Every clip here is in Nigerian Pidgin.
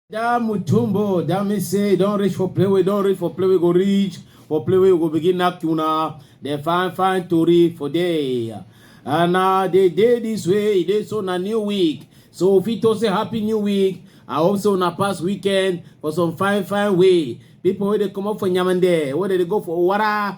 that mutumbo that mean say don't reach for play we don't reach for play we go reach for play we go begin knack tuna dem fine fine tori for day and uh, they dey this way e dey so na new week so we fit to say happy new week i hope so na past weekend for some fine fine way people wey dey comot for nyamande wey dey go for owara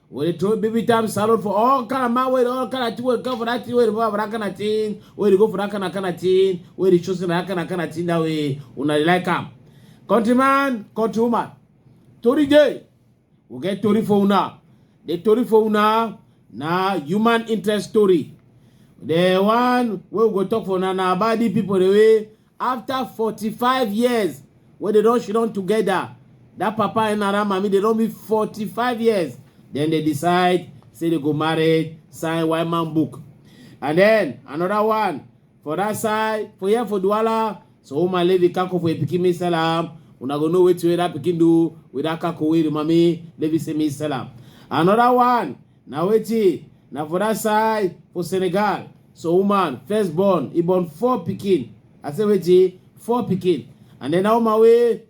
When they throw baby time salad for all kind of man, where all kind of thing, where come for that thing, where they for that kind of thing, where they go for that kind of kind of thing, where they choosing that kind of kind of thing that way, una dey like am. Countryman, countrywoman, tori dey, we get tori for una. The tori for una na human interest story. The one wey we go talk for na na about the people the way after forty five years wey dem don shidon together that papa and nara mami dem don be forty five years then they decide say they go marry sign white man book and then another one for that side for here for duwala so woman leave the kako for a pikin me sell am una go know wetin wey that pikin do with that kako wey the mami leave say me sell am another one Na wetin? Na for that side for Senegal. So woman first born, he born four pikin. I say wetin? Four pikin. And then that woman wey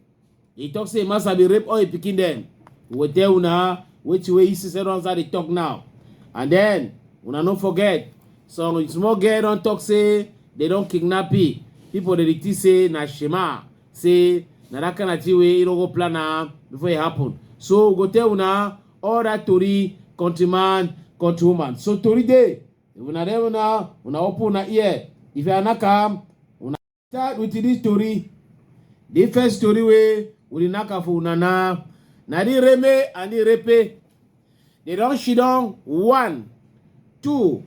he talk say master be rape all his pikin dem. We will tell una wetin wey he see say don dey talk now. And then una no forget some small girl don talk say they don kidnap him. People dey think say na Shema say na that kind of thing wey he no go plan am before e happen. So we go tell una all that tori countryman countrywoman so tori dey if una dey una una open una ear if you knack am una start with this tori the first tori wey we dey knack am for una na na the reme and the repe they don she don one two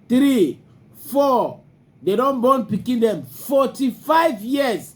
three four they don born pikin dem forty-five years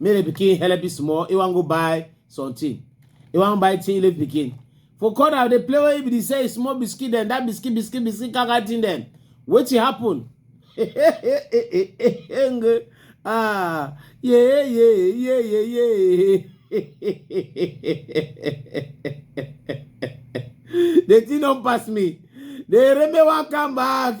make the pikin help you small he wan go buy something he wan buy thing leave pikin for corner dey play wey be say small biscuit dem that biscuit biscuit biscuit kaka thing dem wetin happen ah yeah yeah yeah yeah yeah the thing don pass me the remember wan come back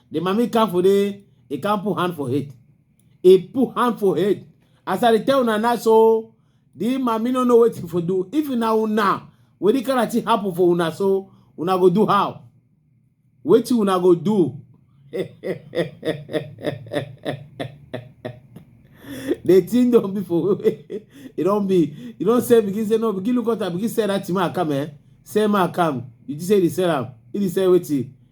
The mommy come for the, he can't put hand for head. He put hand for head. As I tell una now, so the mommy no know what for do. If una una, what the kind of happen for una, so una go do how? What you una go do? the thing don't be for it don't be you don't say begin say no begin look out begin say that to my come eh say my come you just say the sell am he dey sell wetin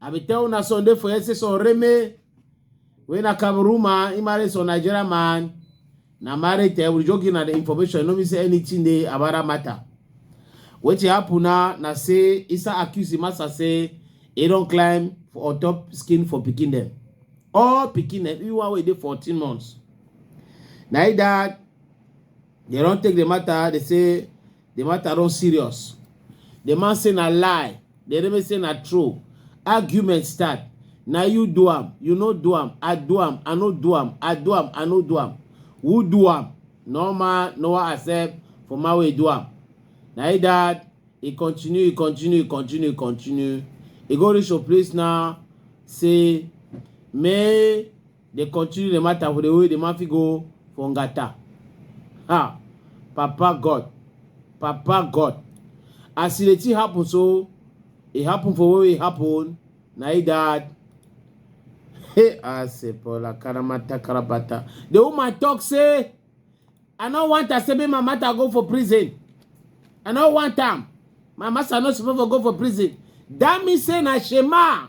I be tell una Sunday for here say some reme wey na Cameroon man, he marry some Nigeria man. Na married eh, we just give na the information. No mean say anything dey about that matter. Wetin happen na na say Isa accuse the master say he don climb for on top skin for pikin dem. All pikin dem, even one wey dey 14 months. Na he that They don take the matter, they say the matter don serious. The man say na lie, the enemy say na true. Argument start. Na you do am, you no do am, I do am, I no do am, I do am, I no do am. Who do am? No man, no one accept for my way do am. Na he that he continue, he continue, he continue, he continue. He go reach your place now, say, may They continue the matter for the way the man fit go for Ngata. Ha! Papa God. Papa God. As the thing happen so, it happen for where it happen. Na it that. Hey, I say, Paula, Karamata, Karabata. The woman talk say, I no want her say make my matter go for prison. I no want am. My master no suppose for go for prison. That mean say na Shema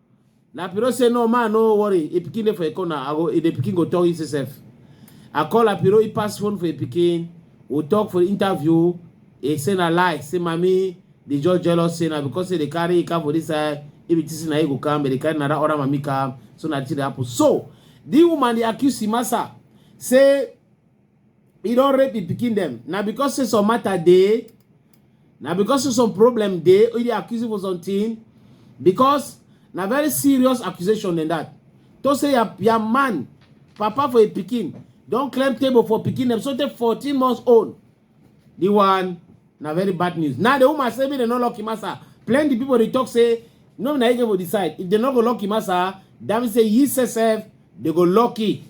La Piro say no man no worry, e pikin dey for a corner, I go e dey pikin go talk e sef. I call La Piro, he pass phone for a pikin, we talk for interview, he say na lie, say mami dey just jealous say na because say dey carry e car for this side, if it is na e go come, but dey carry another other mami car, so na it dey happen. So, the woman dey accuse Imasa say e don rape im pikin dem na because say some matter dey na because say some problem dey e dey accuse you for something because na very serious accusation than that to say your, your man papa for a pikin don claim table for pikin dem so take 14 months old the one na very bad news now the woman say make dem no lock him asa plenty people dey talk say no be na he get for the side if dem no go lock him asa that mean say he sef dey go lock it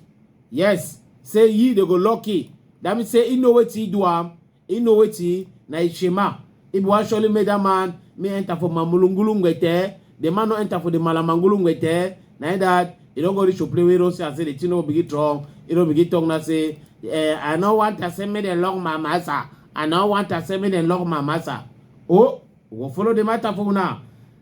yes say ye dey go lucky that means say he know wetin he do am he know wetin na him shema he be wan surely make that man me enter for my mulungulu ngwete the man no enter for the malamangulu ngwete na him that he don go reach to play wey don see am say the thing no begin strong he don begin talk now say eh, i no want to say make dem lock my massa i no want to say make dem lock my massa oh we go follow the matter for una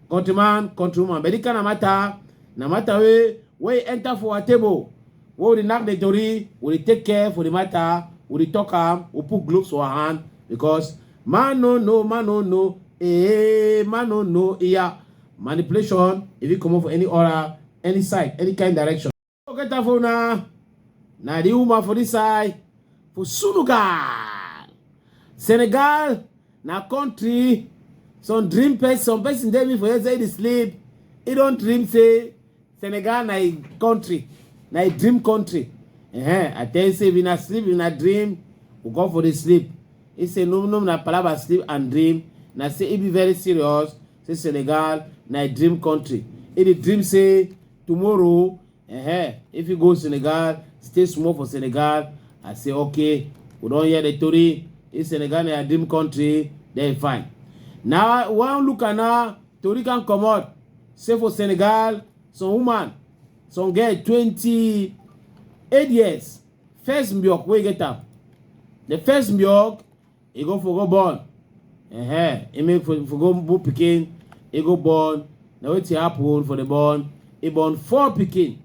countryman countrywoman but this kind of matter na matter wey wey enter for our table wey we dey knack the tori we dey take care for the matter we dey talk am we put gloves for our hand because man no know man no know eh man no know iya manipulation e fit comot for any aura any side any kind direction. Okay, Tafona. Now the woman for this side. For Sunugal. Senegal. Now country. Some dream person, some person tell me for here say they sleep. He don't dream say Senegal na a country. Na a dream country. Uh -huh. I tell you say if you not sleep, you not dream, we go for the sleep. He say no no na palaba sleep and dream. Na say he be very serious. Say Senegal na a dream country. He the dream say tomorrow uh-huh, if you go senegal stay small for senegal i say okay we don hear the tori if senegal na your dream country then fine now one look at now tori can comot say for senegal some woman some girl twenty eight years first mbiok wey get am the first mbiok e go for go born uh-huh. e make for, for go born pikin e go born na wetin happen for the born e born four pikin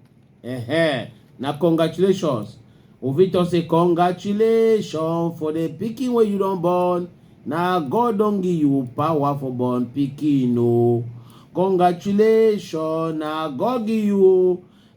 uh-huh. na congratulations we fit talk say congratulations for the pikin wey you don born na god don give you power for born pikin o congratulations na god give you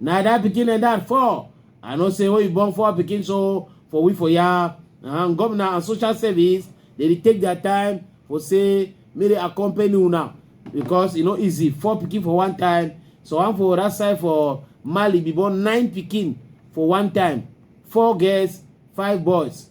Na that pikin and that four. I know say when you born four pikin so for we for ya and governor and social service they dey take their time for say make they accompany una because e no easy four pikin for one time so one for that side for Mali be born nine pikin for one time four girls five boys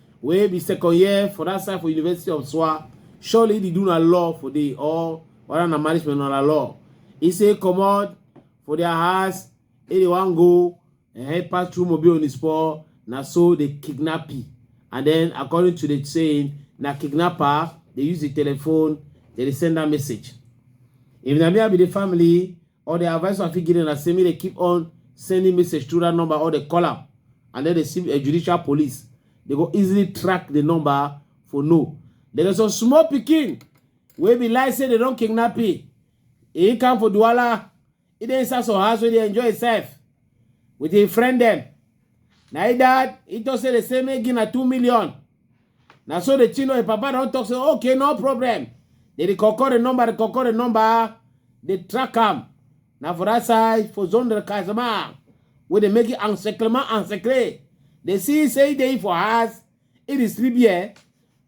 wey be second year for that side for university of swa surely dey do na law for the or whether na marriage men na law e say comot for their house e dey wan go eh, pass through mobile on his paw na so they kidnap him and then according to the saying na kidnapper dey use the telephone dey dey send that message if na me i be the family or the advice I fit give them na say make they keep on sending message through that number or they call am and then they see a judicial police. They go easily track the number for no. There is a small picking wey be like say they don kidnap him he come for duala he dey inside some house wey dey enjoy himself with him friend dem na him dad he talk say they say make give na two million na so the chino papa don talk say okay no problem they dey call call the number dey call call the number dey track am na for that side for zone del casamance wey dey make it encyclement encyclé dey see say e dey for house e dey sleep here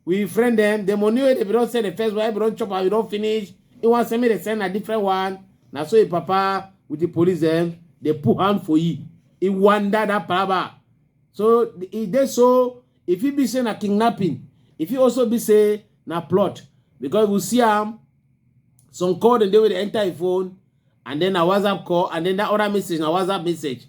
we friend dem the money wey dey be don send the first one e be don chop am e don finish e wan send me dey send na different one na so e papa with the police dem dey put hand for e e wonder that palaba so e dey so e fit be say na kidnapping e fit also be say na plot because we see am some call dem dey wey dey enter im phone and then na whatsapp call and then that other message na whatsapp message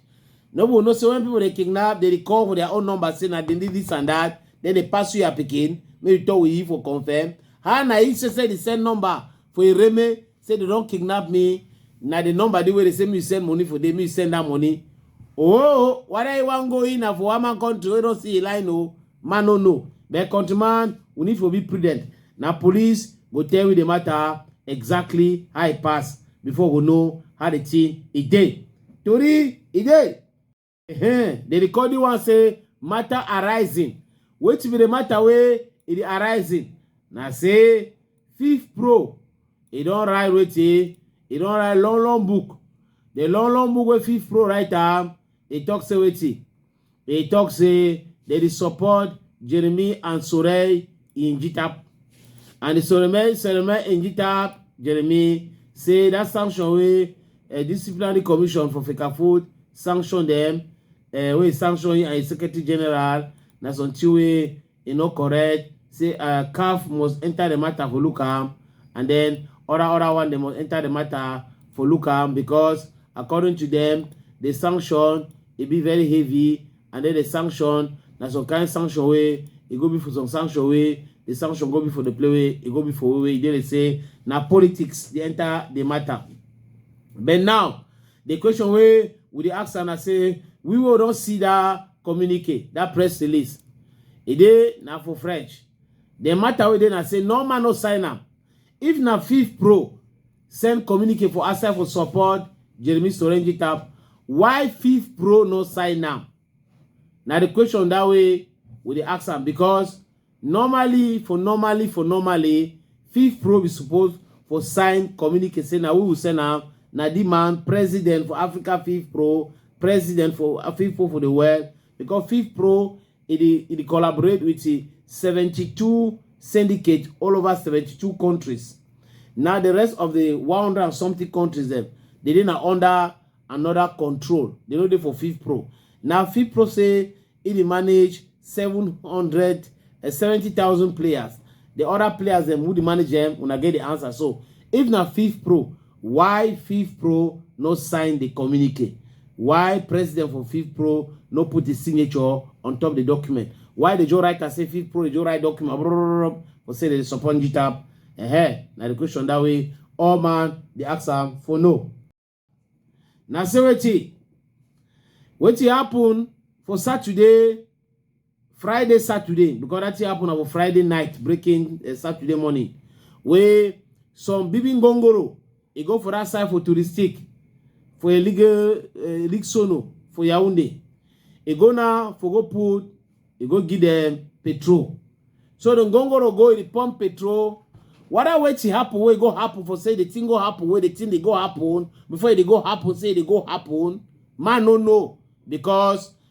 no people know say when people dey kidnap they dey call for their own number say na dem dey this and that then they pass you your pikin make you talk with you for confirm how na he say say they send number for ireme say they don kidnap me na the number dey wey dey say me send money for dey me send that money oh whether you wan go in na for one man country wey don see a line o man no know but countryman we need to be prudent na police go tell you the matter exactly how e pass before we know how the thing e dey tori e dey. Uh-huh. The recording one say matter arising. Which be the matter way it arising. Now say fifth pro. He don't write with he. He don't write long long book. The long long book with fifth pro write am. He talk say with he. He talk say they dey support Jeremy and Sorey in GTAP. And the Solomon, Solomon in GTAP, Jeremy, say that sanction way a disciplinary commission for Fekafood sanction them, uh, eh, we sanction him and secretary general, na something way e no correct, say uh, CAF must enter the matter for look am, and then other other one they must enter the matter for look am because according to them, the sanction e be very heavy and then the sanction na some kind sanction wey e go be for some sanction wey the sanction go be for the play wey e go be for wey e dey say na politics dey enter the matter but now the question wey we dey ask am na say we wey don see that communique that press release e dey na for french the matter wey dey na say normal no sign am if na fif pro send communique for outside for support Jeremy Sorenji Tap. Why Fifth Pro no sign am? Now the question that way we dey ask am because normally for normally for normally Fifth Pro be supposed for sign communique say na we will send am na the man president for Africa Fifth Pro president for Fifth Pro for the world because Fifth Pro e dey e dey collaborate with 72 syndicate all over 72 countries now the rest of the 100 and something countries dem they dey na under another control they no dey for fifth pro now fifth pro say e dey manage 700 uh, 70000 players the other players dem who dey manage them una get the answer so if na fifth pro Why FIFPro no sign the communique? Why president for FIFPro no put his signature on top the document? Why the Joe writer say FIFPro, the Joe write document, for say they support GTAP? Eh, eh, now the question that way, all man, the answer for no. Now say what wetin happen for Saturday friday saturday because that thing happen on friday night breaking uh, saturday morning wey some bibin gongoro e go for that side for touristic for a legal uh, eh, league sono for yaounde e go now for go put e go give them petrol so the gongoro go e pump petrol whether wetin happen wey go happen for say the thing go happen wey the thing dey go happen before e dey go happen say e dey go happen man no know because